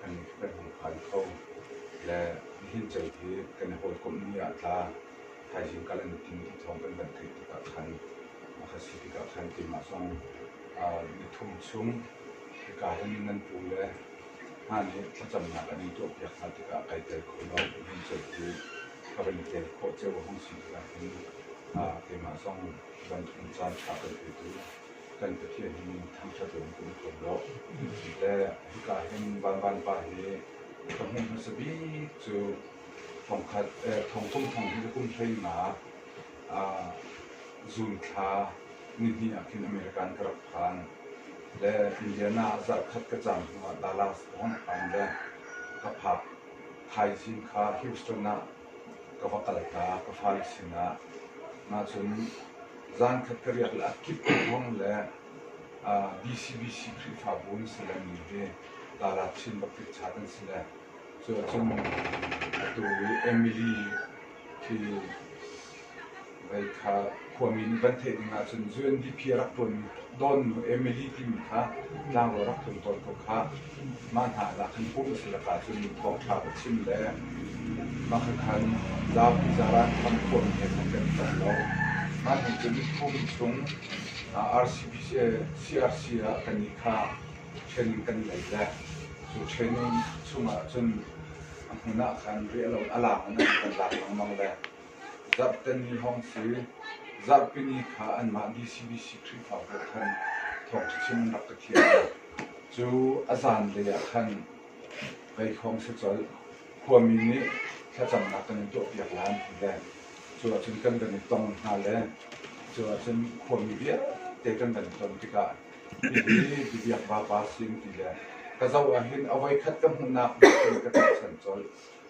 kan kan hei phan kho. Le nihin cei hi kan i hawikomh ni ah tla thaizing kal an tim ti thawng kan van theih tikah khan a ka si tikah khan keimah zong uh, nithum chung hika hin in nan pu le hna nih thlacamnak kan in tuahpiak hna tikah kai tel kho lo nihin cei hi ka van tel khawh ceu a hong si tikah hin uh, keimah zong bantuk caan tha kan petu kan Pathian hi thangṭhat loin kan i thuam lo. Te hika hin Vanban pa hi ka hmuh hmasa bik cu thongkhat thongkung thong hi kum hleima zunthla nihnih ah khin America an ka rak phan. Le Indiana ah zarhkhat ka cam hnuah Dallas pawng a phan le ka phak thaichin kha Houston ah ka va kalta ka fale sinah. Mah cun zankhat ka riak le a kip thawng le BCBC Khrihfabu an si le mi hi Dalar Chin Bakrit Chhat an si le cu ahcun atu Emily khi Vaihtha khuami nih van theih ding ahcun UNDP a rak ṭuanmi Dawnnu Emily timi kha tlanglaw rak tlun tawn ko kha mah hna ah lak in pum a tlak ahcun thawngṭha va chim le mah khan zapi zaran tham khuami he khan kan i tel lo. Mah nih cun pum chung RCPC, CRC ah kan i kha ṭhen in kan lei le cu ṭhen chung ahcun a hmun ah khan riah loin a lang in an kan lak lengmang le Zarhteni hong si Zarhpini kha anmah DCBC Khrihfa pawl khan thawngṭhachim an rak ka thiam hna. Cu a zanlei ah khan kai hrawng si colh. Khuami nih thlacamnak kan in tuahpiak lai an ti le cu ahcun kan kan i tong hna le cu ahcun khuami vialte kan kan i ton tikah hihi bibiak vapa si an ti le ka zoh ahhin a voi khat ka hmuhnak ka ṭial colh.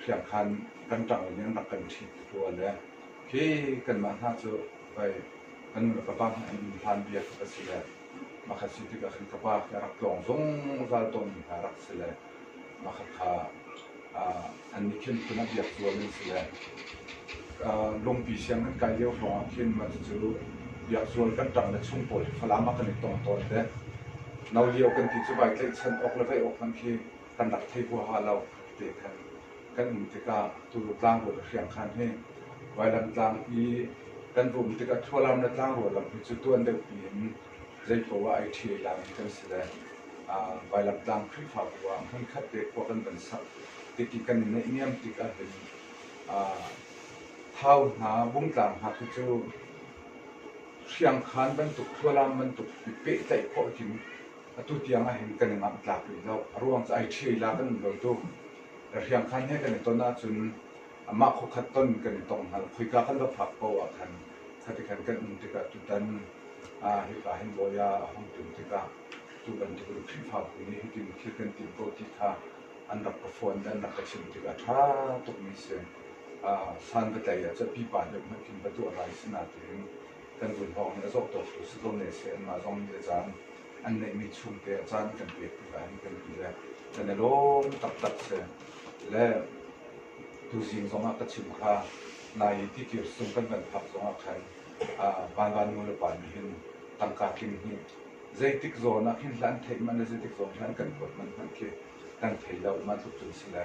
hriamkhan kan ṭangin in rak kan ṭhit tuah le khi kanmah hna cu vai kan nu le ka pa hna an um hlan bia ka si le makhat si tikah khan ka pa hi a rak tlawng zungzal tawnmi hna rak si le makhat kha annih khin kum a biak zuam an si le lungpi siang kan kai lio hrawngah khin mah cu biak zual kan ṭang le chung pawl hi falam a kan i tong tawn te no lio kan ti cu vai tlaihchan awk le vei awk hmanh khi kan rak thei huaha lo te khan kan um tikah Tulu tlangrua le hriangkhan hi Vailam tlang i kan rum tikah Thualam le tlangrua lam hi cu tuan deuhpi in zeipo ah ai ṭhi ai lami kan si le Vailam tlang Khrihfa bu ah hmunkhat te khua kan van sak tiki kan i neih niam tik ahhin thau hna bungtlang hna khi cu hriangkhan bantuk thualam bantuk i pehtlaih khawh hin Atu tiang ah hin kan i mamtlak rih lo. A ruang cu ai ṭhila kan in dawi tuk. Na hriamkhan he kan i ton ahcun amah khuakhat ton kan i tong hna lo. Khoika kan va phak paoh ah khan khati khan kan um tikah tutan ah hipa hin bawi ah a hung tlun tikah tu bantuk in Khrihfabu nih hitin thil kan timh ko ti kha an rak ka fawn le an rak ka chimh tikah ṭha tukmi a si. Ah, san va tlaih ah cun pipa deuh hmanh khin va tuah lai si na tiin kan zulhawng hi a zawtawk tu si ko ne seh anmah zong le caan an neihmi chungte caan kan pek tik ah hin kan ti le kan i lawm taktak se le tuzing zong ah ka chim kha nai i tikir sung kan van phak zong ah khan vanvan nu le pa nih hin tangka tling hi zeitik zawn ah hin hlan theih man le zeitik zawn hlan kan kuat man hmanh khi kan thei lo ma tluk cun si le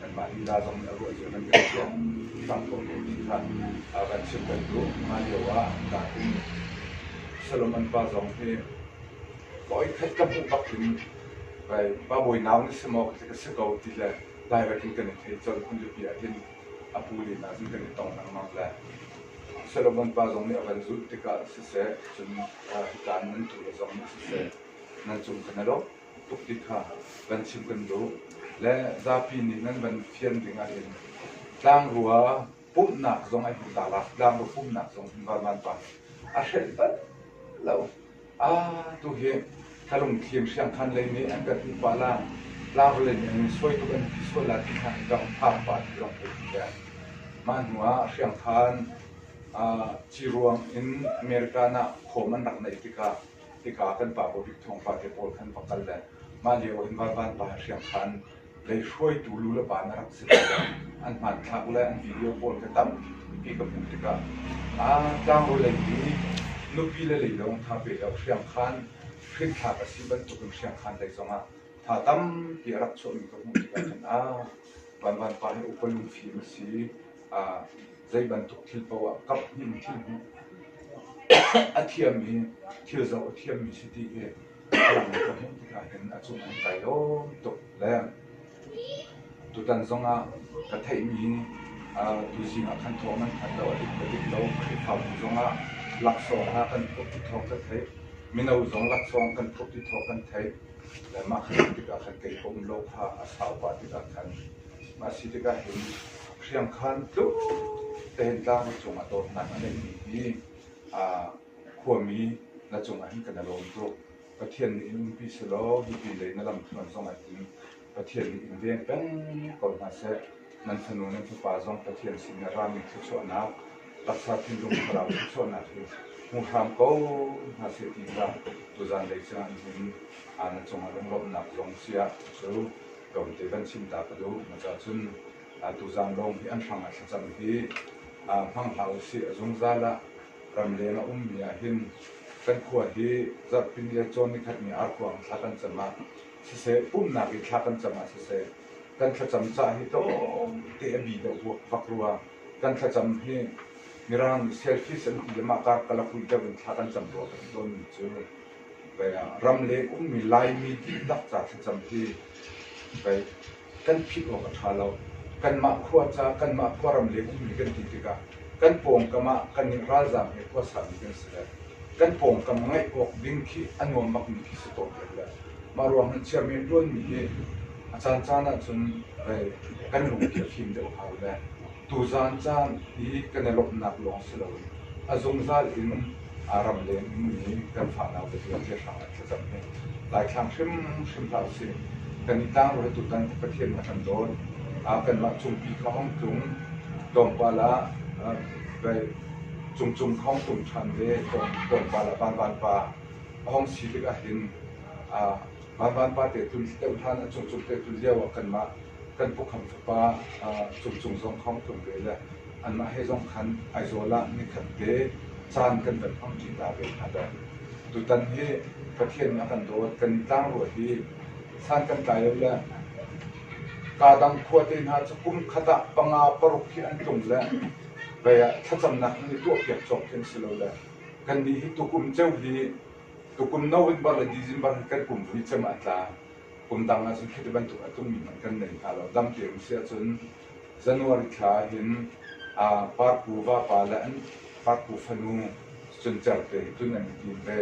Kanmah lila zong nih a ruah cio nan kan fian fak ko ko ti kha kan chim kan duh. Hlan lio ah tlangin Solomon pa zong hi voikhat ka hmuh bak in va mawinaang na si maw ka si ko ti le direct in kan i thei colh. Phunzapi ah hin a pu lila cu kan i tong lengmang le Solomon pa zong nih a van zulh tikah siseh cun hitlai nan tu le zong nih siseh nan cung khan a lawh. tuk ti kha kan chim kan duh. Le zapi nih nan van fian ding ahhin tlangrua pumhnak zong ai hmu ta la, tlangrua pumhnak zong hmu va van pa a hrelh bal lo. Ah, tu hi ka lungthlim hriangkhan lei nih an kan hmuh pah la, tlangrua lei nih an in suai tuk an ti sual la ti hna hi ka um phang pah ti lawng ka ti ve. Mah hnu ah hriangkhan ah ci ruang in American ah khom an rak neih tikah hika kan pa pabik thawngpang te pawl kan va kal le mah lio in Varvan pa hriam khan lei hruaitu lu le pa na rak si an hmanthlak le an video pawl ka tam ti ka hmuh tikah aa tlangbawi lei nih nupi le lei lawng tha pe lo hriam khan hrikthlak a si bantukin hriam khan lei zongah tha tampi a rak chuahmi ka hmuh tikah khan ah Van Van pa hi upa lungfim a si Zeibantuk thil paoh ah kamh in thil hmuh a thiam i thil zoh a thiammi si ti hi ka hmuh tikah hin a cung an kai lawm tuk le tutan zongah ka theihmi hi tuzing ah khan thawng nan thanh lo a dik a dik lo Khrihfabu zongah laksawng hna kan thup ti thawng kan theih mino zong laksawng kan thup ti thawng kan theih le mah khan tikah khan kei ka um lo kha a saupa tikah khan Mah si tikah hin hriamkhan tluk tein tlang na cung ah dawtnak a neihmi hi khuami na cung ah hin kan i lawm tuk. Pathian nih in umpi selaw hipi lei na lamthluan zong ah hin Pathian nih in veng peng ko hna seh. Nan fanu nan fapa zong Pathian sin i rami thluachuahnak, taksa thinlung thlarau thluachuahnak hi hmu hram ko hna seh ti kha tuzan lei cang hin na cung ah lunglawmhnak zong sia cu. tlawmte kan chimta ka duh. Na caah cun tuzaan lawng hi an hrangah thlacam hi hmang hlah usih. A zungzal ah ramleng a ummi ahhin kan khua hi zarhpini le cawn nikhatni arkhuang thla kan cam ah siseh, umnak i thla kan cam ah siseh, kan thlacam ca hi tlawmte a bi deuh vak rua. Kan thlacam hi Mirang nih selfies an ti le mah kar kala pui deuh in thla kan cam rua kan ti tawnmi cu ram le ummi Laimi dihlak ca thlacam hi kan philh awk a ṭha lo. Kanmah khua ca, kanmah khua ram le ummi kan ti tikah kan pawngkam ah kan nih ralzaam he khua saumi kan si le kan pawngkam ngeih awk ding khi a nuamakmi khi si ko dek le mah ruangah chairman ṭuanmi hi a caancaan ahcun kan lungpi a fim deuh hau le Tuzaan caan i kan i lawmhnak lawng si loin a zungzal in aa ram lengmi kan fahnak dawtla te hrang in thlacam hi daithlang hrimhrim hlah usih. Kan i tangruai tutan Pathian na kan dawt. Kanmah cungpi kha hong tlung tlawmpal ah cungcung kha hong tlung ṭhan ve tlawmpal ah van van pa a hong si tikah hin Vanvan pate tlun deuh hlan a cungcung te tlun lio ah kanmah kan pukhamh fapa cungcung zong khawngtlung ve le anmah he zong khan Aizawl ah nikhat te caan kan van hmang ṭi ta ve hna dai. Tutan hi Pathian a kan dawt, kan tlangrua hi san kan tlai lo le kaa dang khuate hna cu kum khat ah panga paruk hi an tlung le kei ah thlacamnak nan i tuahpiak cawk khi an si lo le kannih hi tukum ceu hi Tukum no in barh le December hi kan kum vui cem ah a tla. Kum dang ah cun khiti bantuk a tungmi hmanh kan nei hna lo. Dampi um si ahcun January thla hin uh, parku vapa le an parku fanu cun cer te cun an i ve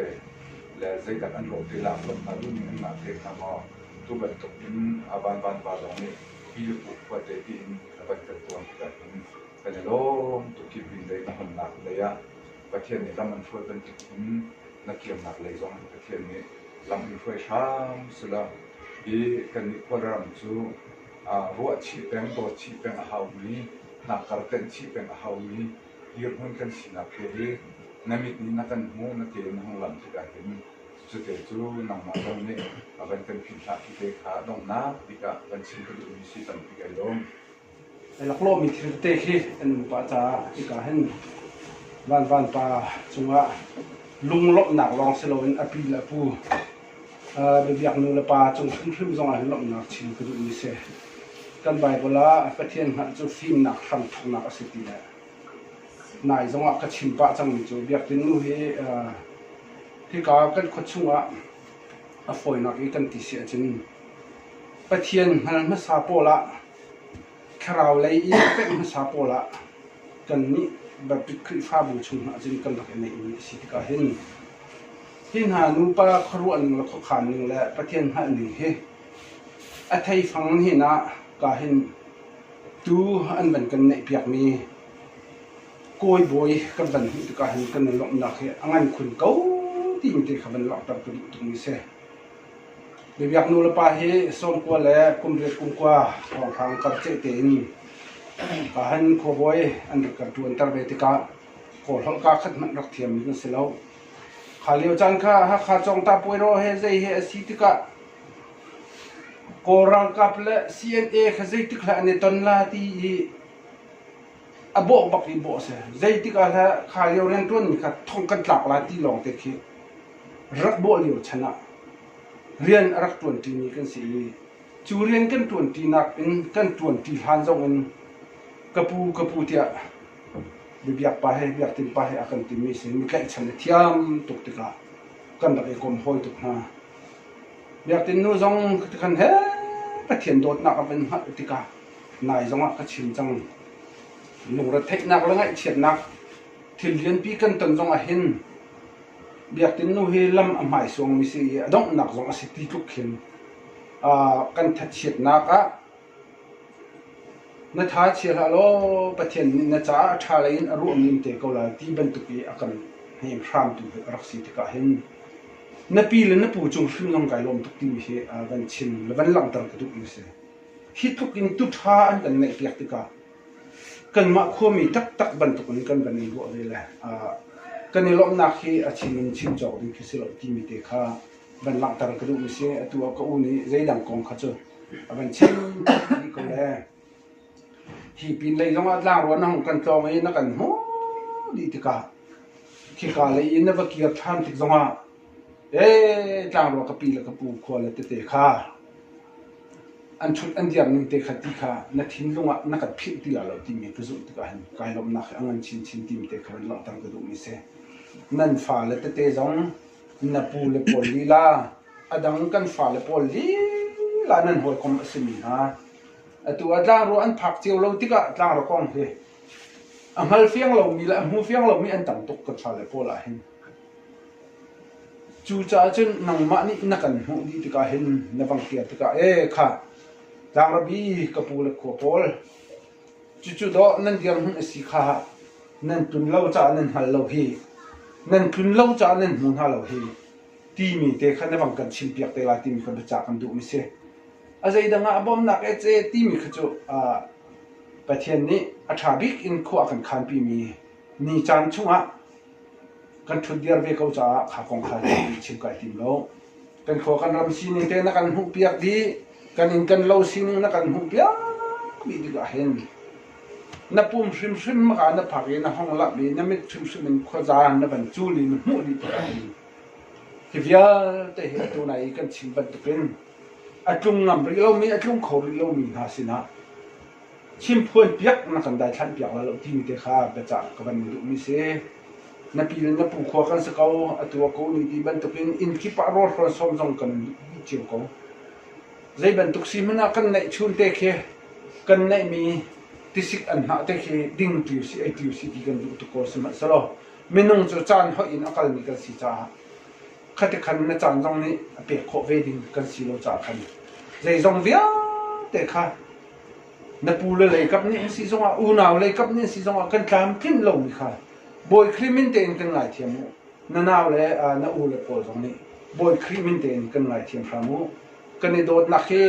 le zeidak an rawh te lak rawh hna duhning an ngah te hna maw tu bantuk in a van van pa zong nih pi le pu khua te tiin a van kan tuan tikah hin kan i lawm tuk hi pin lei na hmannak lei ah Pathian nih lam an hruai bantuk in na thiamnak lei zong Pathian nih lam in hruai hram sela i kannih khualram cu ruah chih peng, dawt chih peng a haumi, hnakkar tenh chih peng a haumi dirhmun kan sinak he hi na mit nih na kan hmu, na ke in na hung lam tikah hin cute cu nangmah zong nih a van kan philhhlah ti te kha donghnak bik ah van chim ka duhmi si tampi kan lawm. laklawhmi thil te khi an nupa caah hika hin vanvan pa cungah lunglawmhnak lawng si loin a pi le a pu biabiaknu le pa cung hrimhrim zongah hin lawmhnak chim ka duh mi si. Kan Baibal ah Pathian hngalh cu fimnak hrangthuknak a si ti le nai zongah ka chim pah cangmi cu Biakinn nu hi hika kan khua chungah a fawinak i kan ti si ahcun Pathian hngal hmasa pawl ah Thlarau lei i pemh hmasa pawl ah kannih Baptist Khrihfabu chungah cun kan rak i neihmi a si tikah hin hi hna nupa khuaruahning le khuakhanning le Pathian hngalhning hi a theifang hin ah ka hin tuu an van kan neihpiakmi kawi bawi kan van hmuh tikah hin kan i lawmhnak hi a ngan khun ko timi te kha van langhter ka duh tukmi a si. Mi biaknulepa hi sawmkua le kumriat kumkua thawngthang kar ceh tein Kahan khuabawi an rak kan ṭuanter ve tikah kawlholh kaa khat hmanh rak thiam an si lo. Kha lio caan kha Hakha Cawngta puairaw he zei he a si tikah Kawl ralkap le CNA kha zeitik hlah an i ton la ti i a bawh bak i bawh a si. Zeitik ah hlah kha lio rianṭuanmi kha thong kan tlak lai ti lawng te khi rak bawh lio chan ah rian a rak ṭuanṭimi kan si i cu rian kan ṭuanṭi nak in kan ṭuanṭi hlan zong in ka pu ka pu tiah bibiak pa he biak tin pa he a kan timi sin mi tlaihchan a thiam tuk tikah kan rak i kom hawi tuk hna biak tin nu zong kan he pathian dawtnak a van hngalh tikah nai zongah ka chim cang. Lungretheihnak le ngaihchiatnak thil lianpi kan ton zong ah hin biakinn nu hi lam a hmai suangmi si i a donghnak zong a si ti tluk khin kan thatchiatnak ah na tha chia hlah law Pathian nih na caah a tha lei in a ruahmi te ko lai ti bantuk i a kan hnem hramtu a rak si tikah hin na pi le na pu cung hrim zong kai lawm tuk timi hi van chim le van langhter ka duh mi si. Hi tluk in tuṭha an kan ngeihpiak tikah kanmah khuami taktak bantukin kan van i ruah ve le kan i lawmhnak hi a chim in chim cawk ding khi si lo timi te kha van langhter ka duhmi si. Atu ah ka u nih zeidang kong kha cu a van chim dih ko le hi pin lei zongah tlangrua na hung kan tlawng i na kan hmu dih tikah khika lei i na va kir ṭhan tik zongah Ee tlangrua ka pi le ka pu khua le tete kha an ṭhut an diam ning te kha ti kha na thinlung ah na kan philh ti la lo timi ka zumh tikah hin kai lawmhnak hi a ngan chinchin timi te kha van langhter ka duhmi si. Nan fale tete zong na pu le pawl lila a dang kan fale pawl lila nan hawikom a simi hna atu ah tlangrua an phak cio lo tikah tlangrua kong hi a hngal fiang lomi le a hmu fiang lomi an tam tuk kan fale pawl ah hin Cucaah cun nangmah nih na kan hmuh dih tikah hin na vang ṭial tikah ee khah Tlangrabi ka pu le khua pawl cucu dawh nan dirhmun a si kha nan tlun lo caah nan hngal lo hi nan tlun lo caah nan hmu hna lo hi timi te kha na vang kan chim piak te lai timi kha biacah kan duhmi si. A zeidang ah a bawmnak ee ce timi kha cu Pathian nih a ṭha bik in khua a kan khanpimi ni caan chungah kan ṭhut diar ve ko caah kha kong kha zeiti chim ka i tim lo. Kan khua kan ram sining te na kan hmuhpiak dih, kan inn kan lo sining na kan hmuhpiak dih tikah hin na pum hrimhrim maka na phak i na hong lamh i na mit hrimhrim in khuazaan na van cul i na hmuh dih tikah hin hi vialte hi atu na i kan chim bantukin a tlung ngam rih lomi, a tlung kho rih lomi hna sinah Chimphuan piak na kan daithlanh piak la lo timi te kha biacah ka van duhmi si. Na pi le na pu khua kan si ko, atu a ko ni ti bantukin inn kip ah rawlhrawn sawm zong kan dih cio ko. Zei bantuk si hmanh ah kan neih chun te khi kan neihmi tisik an hnah te khi ding tiu si, ei tiu si ti kan duh tuk ko sihmanhsehlaw minung cu caan hoih in a kalmi kan si caah khati khan na caan zong nih a pek khawh ve ding kan si lo caah khan zeizong vialte kha Na pu le leikap nih an si zongah, unau leikap nih an si zongah kan tlamtlinh lomi kha Bawi Khrih min tein kan ngaithiam u. Na nau le na u le pawl zong nih Bawi Khrih min tein kan ngaithiam hram u. Kan i dawtnak hi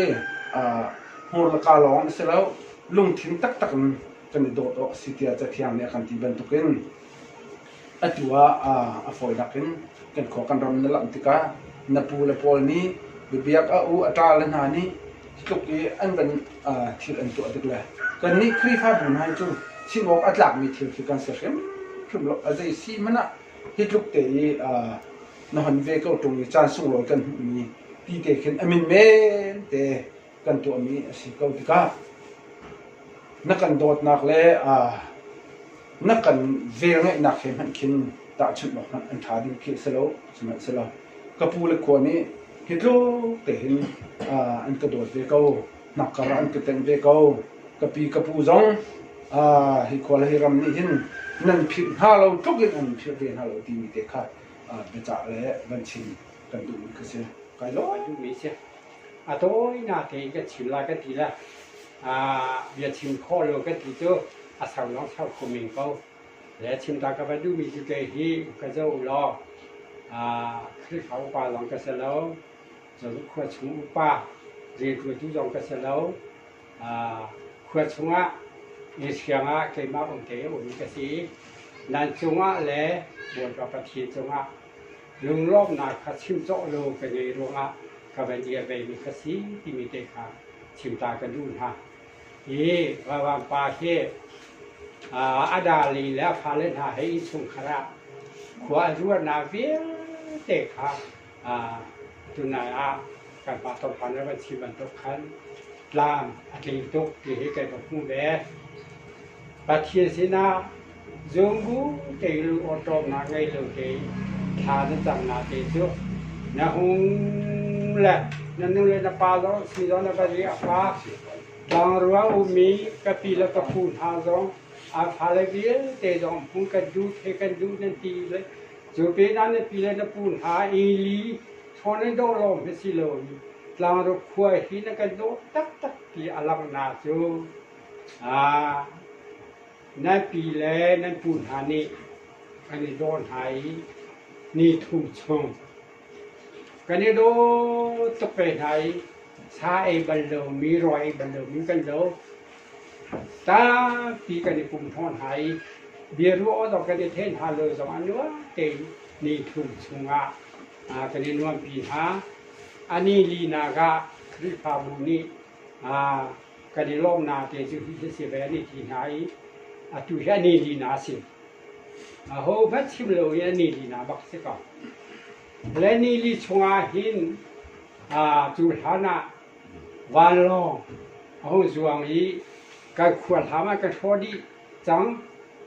hmur le kaa lawng a si lo, lungthin taktak in kan i dawt awk a si tiah Cathiang nih a kan ti bantukin Atu ah a fawi nak in kan khua kan ram na langh tikah na pu le pawl nih biabiak a u a ṭa le hna nih hi tluk i an van thil an tuah tik le kannih Khrihfabu hna hi cu chim awk a tlakmi thil khi kan si hrimhrim lo. A zei si hmanh ah hi tluk te i na hon ve ko ṭung i caan sunglawi kan hmuhmi ti te khin a min men te kan tuahmi a si ko tikah na kan dawtnak le na kan velngeihnak he hmanh khin tahchunh awk hmanh an ṭha ding khi a si lo sihmanhsehlaw ka pu le khua nih hi tluk tehin an ka dawt ve ko hnakkar ah an ka tengh ve ko ka pi ka pu zong hi khua le hi ram nih hin nan phirh hna lo tluk in an phirh ve hna lo timi te kha biacah le van chim kan duhmi ka si kai lo duhmi a si A tawinak i kan chim lai kan ti le ah bia chim khawh lo kan ti cu a ser lawng ser khawh men ko. Le chim ta ka va duhmi cu kei hi ka zo law ah Khrihfa upa lawng ka si lo, khua chung upa rianṭuantu zong ka si lo. Ah khua chungah inn hriangah keimah umte a ummi ka si i nan cungah le Bawipa Pathian cungah lunglawmhnak kha chim cawh law ka ngeih ruangah ka van i a veimi ka si timi te kha chimta ka duh hna. I Ralram pa khi a dali le a fale hna he innchungkhar ah khua a ruahnak vialte kha tunai ah kan pa thawngpang na van chim bantuk khan tlam a tling tuk ti hi kan va hmuh ve. Pathian sinah zungu tein lungawṭawmnak ngei lo tein thla na camnak te cu na hung le na nu le na pa zong si zong na va riah pa tlangruang ummi ka pi le ka phu hna zong a fale vialte zong hmuh kan duh theih kan duh nan ti le cu pinah na pi le na pu hna i li ṭhawn in dawh lawm hi si loin tlangruk khua hi na kan dawh taktak ti a langhnak cu Nan pi le nan pu hna nih kan i daw hna i ni thum chung kan i daw tuk ve hna i sa ei bal lomi, rawi ei bal lomi kan lo. Tampi kan i pum hnawh hna i biaruah awk zong kan i theih hna lo zong ah nuam tein ni thum chungah kan i nuampi hna. A ni linak ah Khrihfabu nih kan i lawm na te cu hi hi si ve ni ti hna i atu hi ani li na si ho hmanh chim lo i ani li na bak si ko le ni li chungah hin cu hlan ah vanlawng a hung zuang i kan khual hlam ah kan hrawh dih cang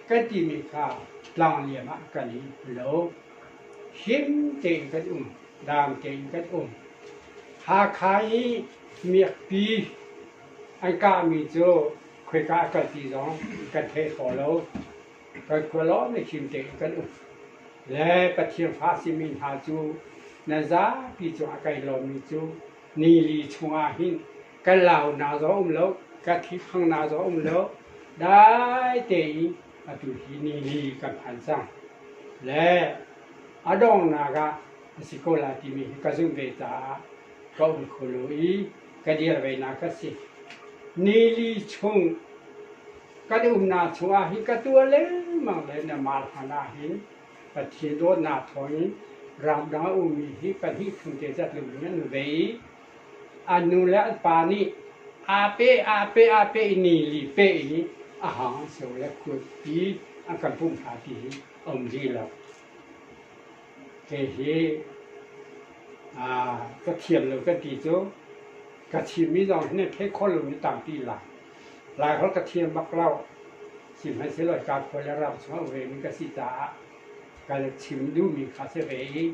kan timi kha tlang liam ah kan i lo him tein kan um dang tein kan um Hakha i Miakpi an kahmi cu khoika a kal ti zong kan thei kho lo. Kan khua lawng nih him tein kan um. Le Pathian fa simi hna cu nan zapi cungah kan i lawmmi cu nili chungah hin kan la huna zong a um lo, kan thliphang na zong a um lo. Dai tein atu hi nili kan phan cang. Le a donghnak ah a si ko lai timi hi ka zumh ve caah ka um kho lo i ka dir venak a si. Nili chung kan umnak chungah hin ka tuah lengmang le na mal hana hin Pathian dawtnak thawngin ramdang a ummi hi pahnih chung te zat lung in an vei i an nu le an pa nih ape ape ape i nili pe i a hang an seu le kut pi an kan pumh hna ti hi a um rih lo. Kei hi ka thiam lo kan ti cu ka thimmi zong hi thei kho lomi tampi lai. Laiholh ka thiam bak lo. Sihmanhsehlaw hi kaa khual le rau chungah vemi ka si caah ka le chim duhmi kha si ve i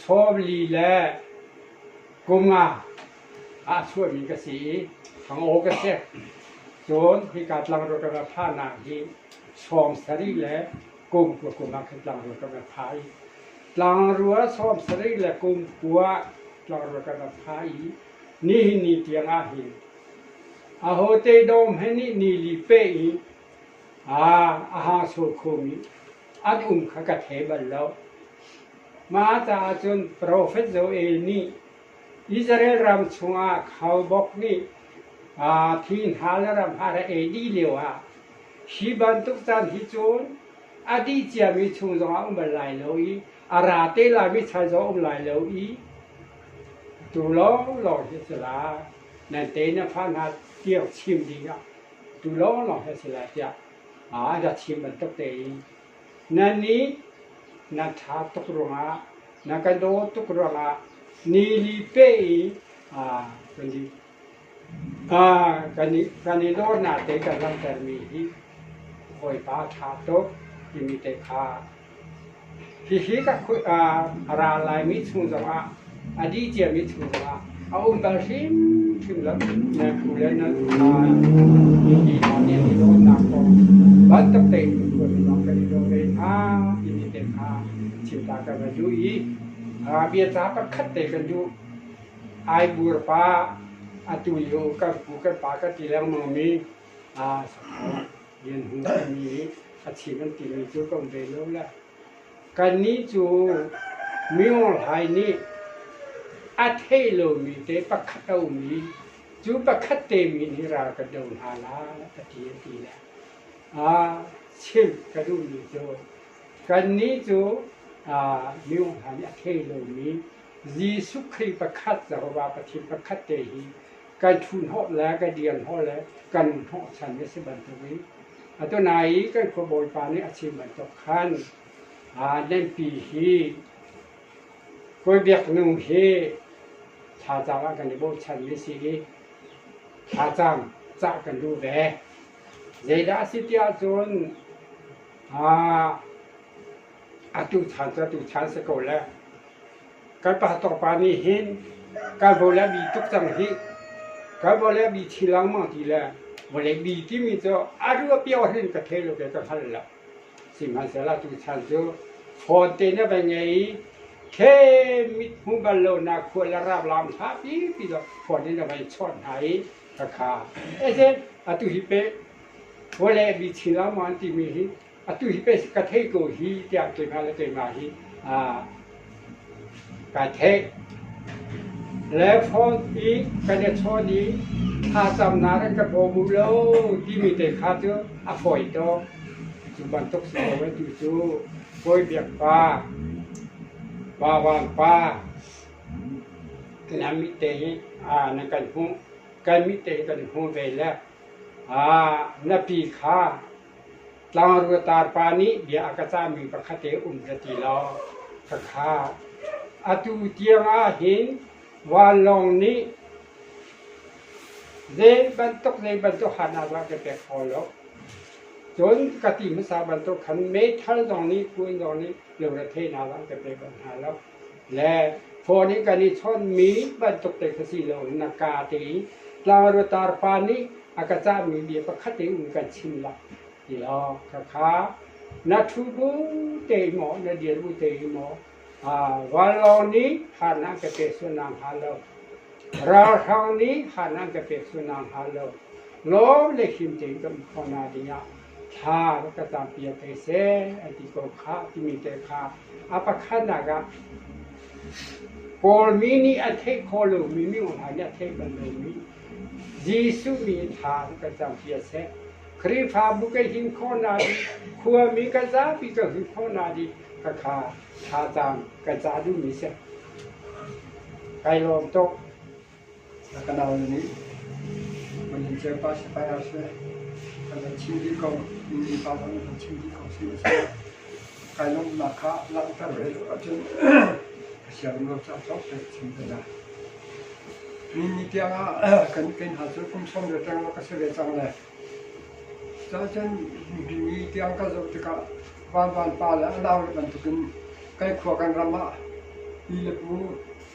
chawvli le kunga ah a chuahmi ka si i fangaw ka si. Cun hika tlang ruat ka ra phanah hi chawng sarih le kum kul kum ah khan tlangrua kam a tha i tlangrua sawm sarih le kum kua tlangrua kam a tha i nihin ni tiangah hin a hote dawm he nih ni li pe i a a ha so khum i an um kha ka the bal lo mah ta ahcun profet Joel nih Israel ram chungah khalbok nih thi hna le ramhah le ei dih lioah hi bantuk caan hi cun a dih ciami chung zongah a um bal lai lo i a ra te laimi chan zong a um lai lo i atu lawnglawng hi a si lai. Nan te na fa hna tiang chim ding ah atu lawnglawng hi a si lai tiah a rak chim bantuk te in Na ni na ṭha tuk ruangah, na ka daw tuk ruangah ni li pe i kan i dawrnak te kan langhtermi hi Bawipa ṭha tuk timi te kha hihi ka ra laimi chung zongah a dih ciami chung zongah a um bal hrimhrim lo. Na phu le na pa i hna nih an i dawnnak kong bantuk tein kuat lawng kan i daw ve hna timi te kha chimta kan va duh i a bia ca pakhat te kan duh. Ai bur pa atu lio kan pu kan pa ka ti lengmang mi a sakho lian hung timi a chim an ti mi cu kan ve lo la. Kannih cu miohlai nih a theih lomi te pakhat a um i cu pakhat te min hi ral kan do hna lai a ti a ti le aa chimh ka duhmi cu kannih cu miohlai nih a thei lomi Jesuh Khrih pakhat Jehovah Pathian pakhat te hi kai thuhnawh le kai dianhnawh le kan hnawhchan a si bantukin atunain kan khuabawipa nih a chim bantuk khan Lengpi hi Kawlbiaknu hi thazaang ah kan i bochanmi si i thazaang cah kan duh ve. Zeidah a si tiah cun atu chan cu atu chan si ko le kan pastor pa nih hin kan vo le bi tuk cang hi kan vo le bi thi langmang ti le vawlei bi timi cu a rua pio hin ka the lo ke ka hngal la sihmanhsehlaw tu chan cu phone te ne vai ngei khe mit hmu bal lo na khua le rap lam tha pi pi do phone ne vai chon ha i ka kha ese atu hi pe vawlei bi thi langmang timi hi atu hi pes ka theih ko hi tiang keimah le keimah hi kaa theih. Le phone i kan i chawn i thlacamnak in ka bawm u lo timi te kha cu a fawi tuk. Cu bantuk si lo tu cu Bawibiak pa, Vauang pa, nan mit te hi nan kan hmuh, kan mit te hi kan hmuh ve le na pi kha Tlangru le tarpa nih bia a ka cahmi pakhatte um za ti law ka khah. Atu tiangah hin vanlawng nih zeibantuk zeibantuk harnak dah ka pek fawn lo. Cun ka ti hmasa bantuk khan meithal zong nih kuan zong nih lungretheihnak zong ka pek bal hna lo. le phone i kan i chawnhmi bantuk te kha si loin a kaa tein tlangru tarpa nih a ka cahmi bia pakhat in kan chim lah ti lawng khakha na ṭhu bu te maw na dir bu te maw vanlawng nih harnak ka pe sunang hnga lo ralhrang nih harnak ka pe sunang hnga lo lawm le him tein kan um khawh hna dingah thla rak ka campiak hei seh an ti ko khah timi te kha a pakhatnak ah Kawlmi nih a theih kho lomi minung hna nih a theih bal lomi Jesuh mi thla rak ka campiak seh Khrihfabu ka him khawh na i khuami ka zapi ka him khawh na i ka kha thazaang ka ca duhmi seh kai lawm tuk Na ka nau nih Mani Cepa Sipai ah seh kan van chim dih ko, mi mipa zong kan chim dih ko sihmanhsehlaw kai lawmhnak kha langhter ve tuk ahcun ka siarem lo caah cawk pek a chim te hna. Ni ni tiang ah kan kan hal cu kum sawm ve tang lo ka si ve cang le Cahcun ni tiang ka zoh tikah Van Van pa le a nau le bantukin kai khua kan ram ah pi le pu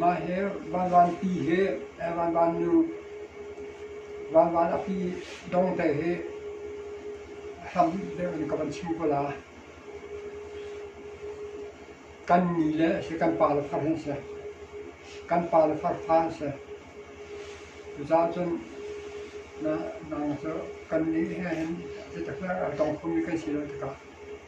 Mah hi Vanvan pi hi Vanvan nu Vanvan a pi dong te hi a hlam deuh in ka van chim ko la. Kan ni le si kan pa le far hin si. Kan pa le far fa an si. Cucaah cun na nang cu kan ni he hin hi taktak a tong khomi kan si lo tikah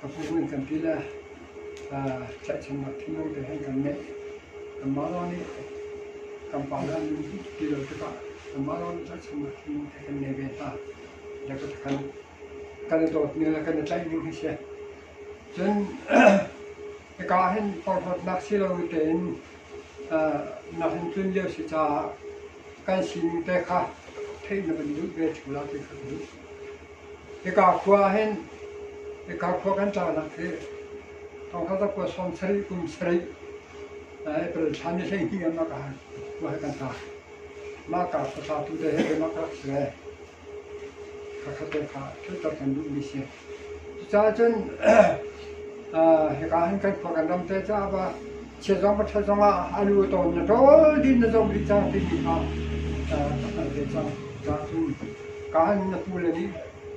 Ka hmuhning kan ti le tlaihchannak thinlung te hin kan neih. Kan Mara nih kan pale an um ti lo tikah kan Mara nih tlaihchannak thinlung te kan ngei ve hna. Le ka kan kan i dawtmi le kan i tlaihmi hi si. Cun hika hin porhlawtnak si lo tein na hin tlun lio si caah kan sining te kha theih na van duh ve ṭhula ti ka duh. Hika khua ahhin hika khua kan ṭahnak hi Thawngṭhata khua sawm sarih kum sarih April thla ni hleihnih ah mah khua hi kan ṭah. Mahka khua ṭhatu te he mah ka rak si ve. Khakha te kha ṭhehter kan duhmi si. Cucaah cun hika hin kan khua kan ram te caah va Chiazong ka ṭhal zongah a lu a tawn, na ṭawl din na zong dih cang timi kha ka hngalh ve cang. Cun kahan na pule nih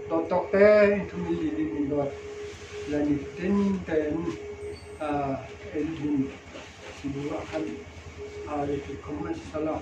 dawt tawk te in ṭhumi lilin in dawt le nitin tein in bu ah khan aa le tuk kho hmanh seh law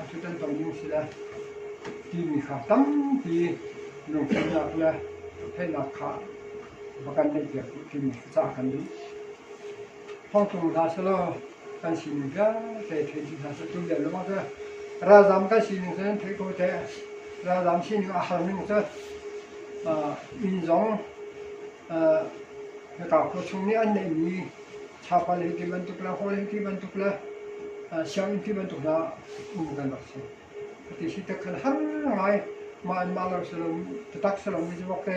Atu kan ton mi thil a timi kha tampi lungfimnak le theihnak kha va kan neih piak timi ca kan duh. Hongkong hna selaw kan sining vialte thei ti hna selaw tu vial lawng cu ralzam kan sining cu thei ko te ralzam sining a har ning cu min zong Hnatlang khua chung nih an neihmi thlapa le ti bantuk le haw le ti bantuk le sianginn ti bantuk hna um kan rak si. Ti si tak khan har ngai ma an ma lar salom tatak salom mi jawk te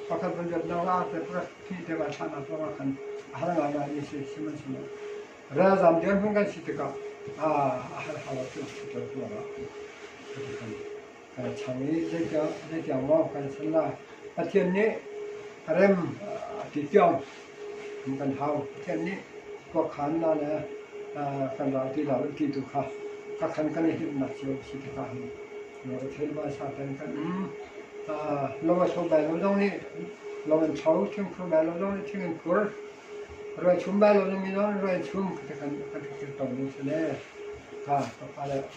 pakhat van jot nang la te pakhat ti te ka thana to ka khan har ngai ngai ni se siman siman ra zam dir hung kan si tika a har halat tu tu ba ti kan kan chang i zeitiang zeitiang maw kan san lai. Pathian nih rem a ti cio kan hau. Pathian nih kuakhan na le kan ral ti lo ti tu kha ka khan kan i hlimnak cu a si tikah hin lo a thei vai sa ten kan lo a so bai lo zong nih lo an cho thing khur bai lo zong nih thing an khur roi chum bai lo zong nih rai chum ka kan kan kir ton ding se ne ka ka pa le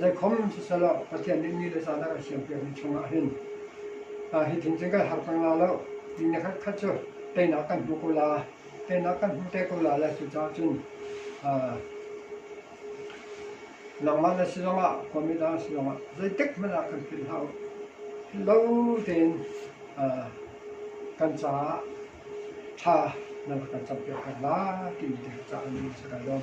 Zeikhom siselaw Pathian nih ni le caan a kan siampiakmi chungah hin hi thil cu kan harter hna lo. Ni le khatkhat cu teinak kan hmu ko la, teinak kan hmu te ko la le cucaah cun nangmah na si zongah khuami dang si zongah zeitik hmanh ah kan philh hlah u. Lo tein kan caah tha nan rak kan campiak hna lai timi te caah ni a si kan lawm.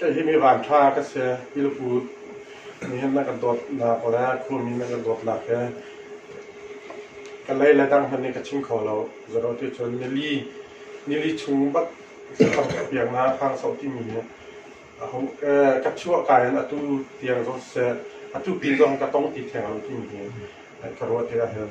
Hi mi vantha ka si. Hi nupu nihhin nan kan dawtnak le khua mi nan kan dawtnak hi ka lei le dang hmanh nih ka chim kho lo. Zaro ti cun nili, nili chung bat thangpiaknak hrangsauh timi hi aho eh, ka chuahka in atu tiang zong siseh, atu pin zong hi ka tong ti theng lo timi hi ka ruat hi ahhin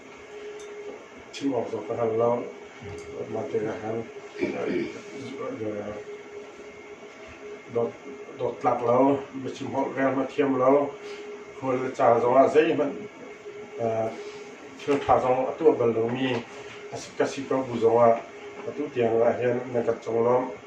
Chim awk cu ka hngal lo, mah tikah khan dawt tlak lo, biachim holh rel hmanh thiam lo, hmual le ca zongah zeihmanh thil ṭha zong a tuah bal lomi ka si ko bu zongah atu tiang ah hin na kan conglawmh.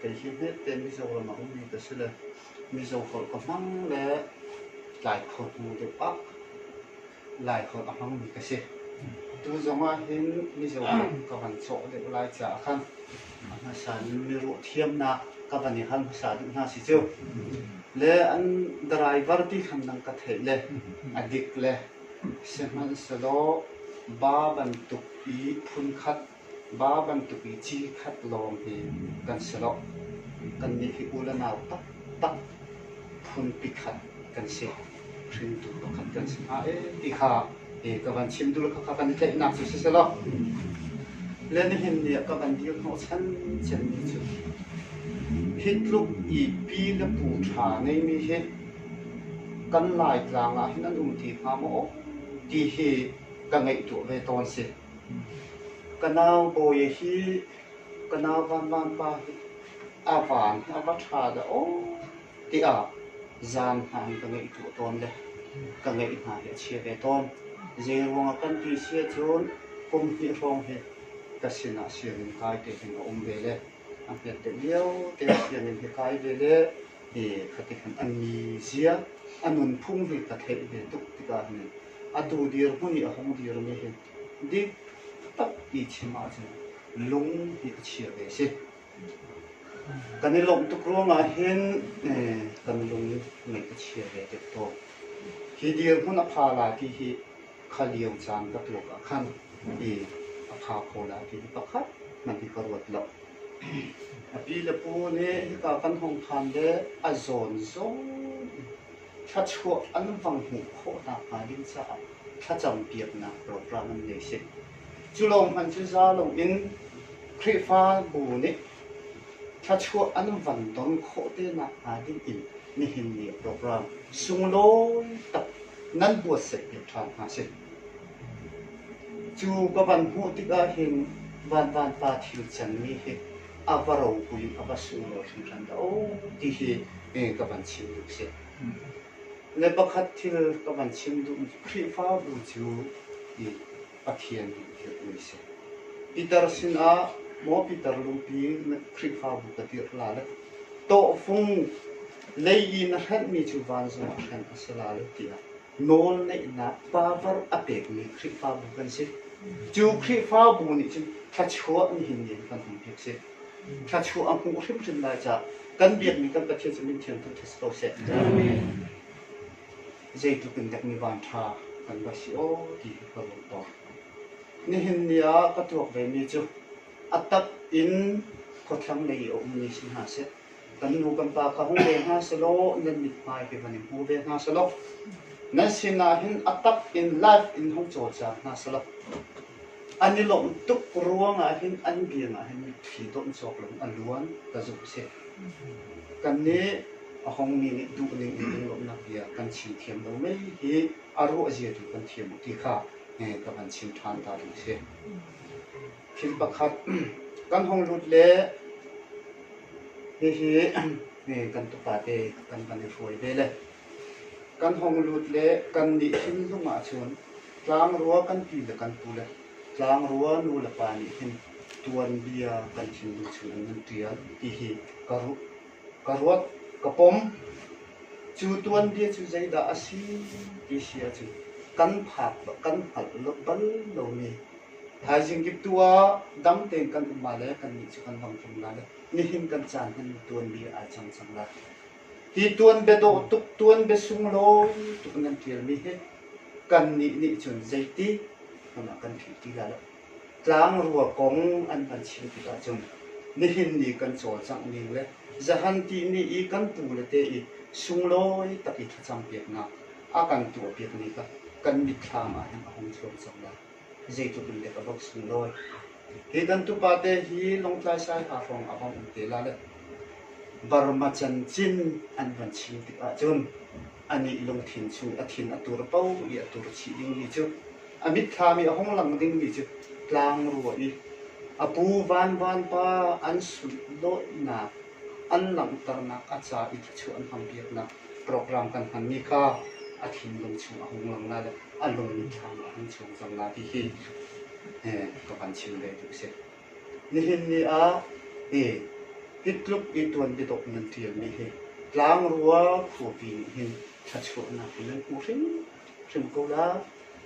Kei hi hmete Mizoram ah ummi ka si le Mizo holh ka hmang le Lai holh hmang deuh ah Lai holh a hmangmi ka si. Tu zong ahhin Mizo holh ka van cawh deuh lai caah khan a hmasa in miruah thiamnak ka van i hal hmasa duh hna si cu. Le an driver ti khan nang ka theih le a dik le sihmanhsehlaw ba bantuk i phunkhat Ba bantuk i ci khat lawngte kan si loh. Kannih hi u le nau taktak phunpi khat kan si. Hringtu pakhat kan si hna ee ti kha e ka van chim duh le khakha kan i tlaihnak cu siselaw le nihin ni ah ka van dir hnawhchan cenmi cu hi tluk i pi le pu ṭha ngeimi hi kan Laitlang ah hin an um ti hnga maw ti hi ka ngaihtuah ve tawn si. Ka nau bawi hi ka nau vanvan pa hi a van hi a va ṭha dah aw tiah zan hna in ka ngeih tuah tawn le ka ngeih hna hi a chia ve tawn. Zeiruang ah kan ti si ahcun kum hnih hrawng hi ka sin ah sianginn kai te hin a um ve le a hmet deuh lio te ah sianginn hi kai ve le hi khatikhan a mizia, a nunphung hi ka theih ve tuk tikah hin atu dirhmun i a hung dirmi hi dik tak i chim ahcun lung ti a chia ve a si. Kan i lawmh tuk ruangah hin eh, kan lung ngaih a chia ve tuk tawn. Hi dirhmun a pha la ti hi kha liau caan ka tuak ah khan i a pha kho la ti hi pakhat man hi ka ruat lo. A pi le pu nih hika kan hong phan le a zawn zawn thluachuah an vang hmuh khawh nakhnga ding caah thlacampiaknak program an ngei si. Cu lawng hmanh cu zalong in Khrihfabu nih thluachuah an van ton khawh te nakhnga ding in nihin ni program sunglawi tak nan buatsaih te ṭhan hna si. Cu ka van hmuh tikah hin Van Van Pa thil can mi hi a va ropui in a va suilo hringhran dah oh ti hi ka van chim duh si le pakhat thil ka van chim duh khrihfabu cu i pathian in dirhmi si Peter sinah maw Peter lupi khrihfabu ka dirh la le tawhfung lei i na hranh mi cu van zong a hranh a si la le tiah Nawlneihnak power a pekmi Khrihfabu kan si. Cu Khrihfabu nih cun thluachuah nihin ni kan hman hi a si. Thluachuah a hmuh hrimhrim lai caah kan biakmi kan Pathian cu min thiang thangṭhat si ko seh. Zeitluk in dek mi vanṭha kan va si aw ti ka lung tawn. Nihin ni ah ka tuak vemi cu a tak in khuathlang lei i a ummi si hna seh, kan nu kan pa kha hmu ve hna selaw nan mithmai hi van i hmu ve hna selaw nan sinah hin a tak in life in hung cawlcang hna selaw an i lawmh tuk ruangah hin an biangah hin mitthli dawm cawk lo a luan ka zumh si kan nih a hong mi nih duh ning in lawmhnak bia kan chim thiam lo mai hi a ruah zia tu kan thiam ti kha ka van chim ṭhan ta duh si Thil pakhat kan hong lut le hihi kan tupa te kan van i hruai ve le kan hong lut le kan nih hrinhlung ah cun tlangrua kan pi le kan pu le tlangrua nu le pa nih hin tuanbia kan thinlung chung an nan ṭial ti hi ka ruah ka ruat ka pom cu tuanbia cu zeidah a si ti hria cun kan phak kan hngalh lo bal lomi Thaizing kip tu ah dam tein kan um ah le kannih cu kan ram tlung lai le nihin kan caan hin tuanbia ai cang cang lai. Hi tuanbia dawh tuk tuanbia sunglawi tuk nan ṭialmi hi kannih nih cun zeiti hmun ah kan ṭhi ti lai lo. Tlangrua kong an kan chim tikah cun nihin ni kan cawlcangh ning le zahan tihni i kan pu le te i sunglawi tak i thlacam piaknak a kan tuah piak ni kha kan mitthlam ah hin a hung chuak cang lai. zeitluk in dek a vok sung nawi. Kedantu pate hi Lawngtlai Saiha hrawng a vong um te la le Burma can cin an van chim tikah cun anih lungthin chung a thin a tur po i a tur chih dingmi cu a mitthami a hung lang dingmi cu tlang rua i a pu vanvan pa an sut dawtnak an langhternak a ca i thluachuah an hmang piaknak program kan hmanmi kha a thinlung chung a hung lang lai le a lungin thlam a hung chung zong lai ti hi eh, ka van chim ve tu si. Nihin ni ah eh, hi tluk i tuan bitok nan ṭialmi hi tlang rua phuapi nih hin thlachuahnak in nan hmu hrim hrim ko la.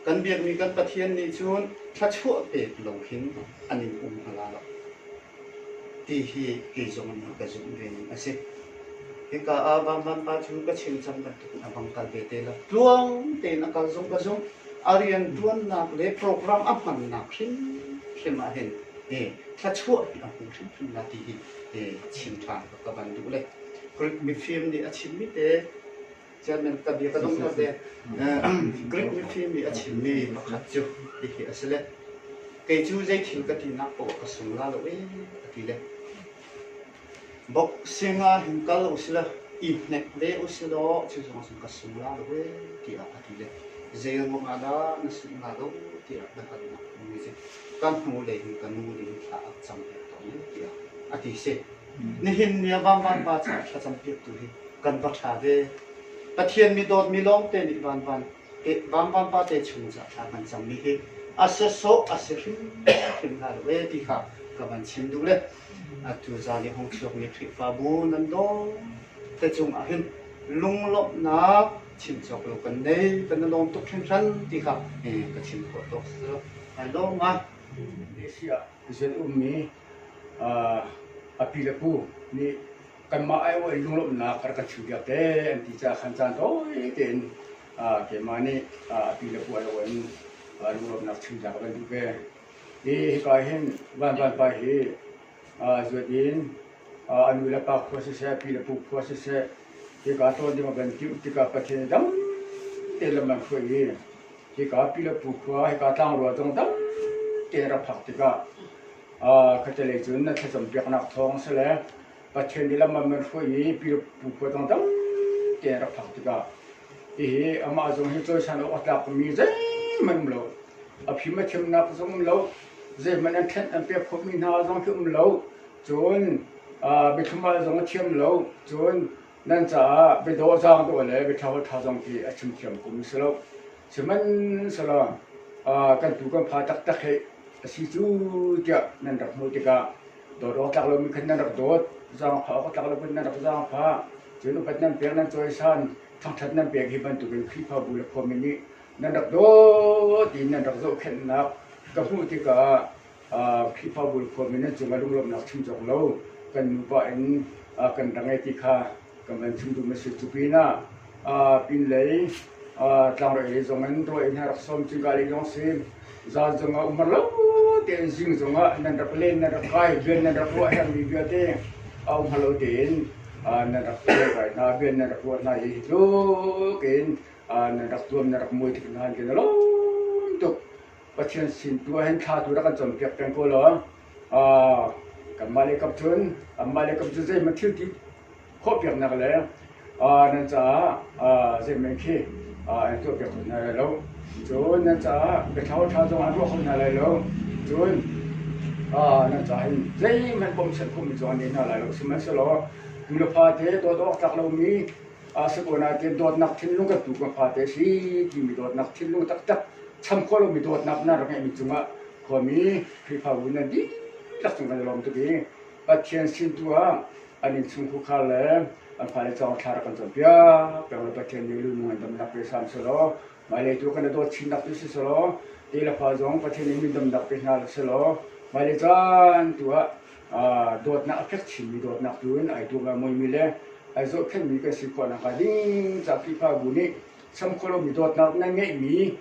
Kan biakmi kan Pathian nih cun thlachuah pek lo hin an in um hmala lo. ti hi kei zong nih ka zumh ve ning a si. Hika ah Vahman pa cu ka chimcang bantukin a bang kal ve te la. Tluang tein a kal zung ka zung a riantuannak le program a hmannak hrimhrim ah hin eh thluachuah a hmu hrimhrim la ti hi eh chim than ka van duh le. Greek mifim nih a chimmi te Chairman ka bia ka dong lo te. Greek mifim i a chimmi pakhat cu hihi a si le. Kei cu zei thil ka ti nak pawh ka sung la lo e a ti le. Boxing ah hin kal u sila i hnek ve u sila cu zong sun ka sung la lo e tiah a ti le. Zei ruang ah dah na sung la lo tiah na kan nak mi si. Kan hnu lei hin ka nu ding thla a cang te tong tiah a ti si. Nihin ni ah vanvanpa caah thlacampiaktu hi kan va ṭha ve. Pathian mi dawtmi lawngte nih vanvan te, vanvanpa te chung caah thla kan cammi hi a si sawh a si hrimhrim hna lo e ti kha ka van chim duh le atu zan i hong chuakmi Khrihfabu nan dawng te cung ah hin lunglawmhnak chim cawk lo kan nei kan na lawm tuk hringhran ti kha ka chim khawh tawk si lo. Hai lawm ah Asia zun ummi a pi le pu nih kanmah aiawh in lunglawmhnak a rak kan chuhpiak te an ti caah khan caan tawi tein keimah nih a pi le pu alo in lunglawmhnak chuhpiak a kan duh ve. Hi hika hin Van Van pa hi zuat in a nu le pa khua siseh, pi le pu khua siseh hika tlawn ding a van timh tikah Pathian dang tein lam an hruai i Hika Pilapu khua, hika tlangrual zong tamte rak phak tikah khattelei cun na thlacam piaknak thawng a si le Pathian nih lam an van hruai i Pilapu khua zong tamte rak phak tikah hihi amah zong hi cawisan awk a tlakmi zeihmanh um lo. A phim a thiamnak zong um lo, zeihmanh an thlen an pek khawhmi hna zong khi um lo. Cun biathlum zong a thiam lo. Cun Nan caah biadawhzang dawh le biaṭhalo ṭha zong khi a chim thiam kum a si lo. Sihmanhsehlaw kan tuu kan fa taktak hi a si cu tiah nan rak hmuh tikah dawt awk tlak lomi khan nan rak dawt, zaangfah awk tlak loin nan rak zaangfah. Cun upat nan pek, nan cawisan, thangṭhat nan pek hi bantukin Khrihfabu le khuami nih nan rak dawt in nan rak zohkhenhnak ka hmuh tikah Khrihfabu le khuami nih cunga lunglawmhnak chim cawk lo kan nupa in kan ra ngei ti kha kan van chim duhmi a si. Cu pinah pinlei tlangrei lei zong in ruah in rak sawm cu gali lawng si. Zan zong ah umar lo tein zing zong ah nan rak len nan rak kai bian nan rak ruah hermi vialte a um lo tein nan rak kai hna bian nan rak ruah hna hi tluk in nan rak tuam nan rak muai tik hna hin khin a lawm tuk. Pathian sin tu ahhin thla tu rak kan cawnpiak peng ko law kanmah le kap cun anmah le kap cu zeihmanh thil ti khawhpiaknak le nan caah zeihmanh khi an tuahpiak kho hna lai lo cun nan caah biathlau ṭha zong an ruah kho hna lai lo cun nan caah hin zeihmanh pom sian khawhmi zong an ei hna lai lo sihmanhsehlaw nu le pa te dawt awk tlak lomi Sakuan ah tiin dawtnak thinlung ka tu ka fate si timi dawtnak thinlung taktak cham khawh lomi dawtnak na rak ngeihmi cungah khuami Khrihfabu nan dihlak cung kan i lawm tuk i Pathian sin tu ah an innchungkhar le an fale caah thla rak kan cawnpiak peng le Pathian nih lu nung in damnak pe hram selaw mailei tu kan i dawt chinnak tu si selaw te le fa zong Pathian nih min damnak pe hna selaw mailei caan tu ah dawtnak a fek chinmi dawtnak tu in ai tuak mawimi le ai zohkhenhmi kan si khawh nakhnga ding ca Khrihfa bu nih cham kho lomi dawtnak nan ngeihmi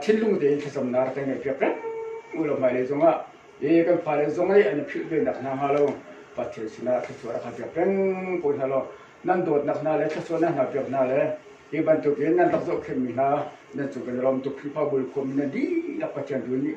thinlung tein thlacamnak rak kan ngaihpiak peng lo hmailei zongah i kan fale zong i an philh venak hna hnga lo Pathian sinah thluachuah rak piak peng ko hna law nan dawtnak hna le thluachuahnak hna piak hna le hi bantukin nan rak zohkhenhmi hna nan cung kan i lawm tuk Khrihfa bu khuami nan dihlak Pathian tu nih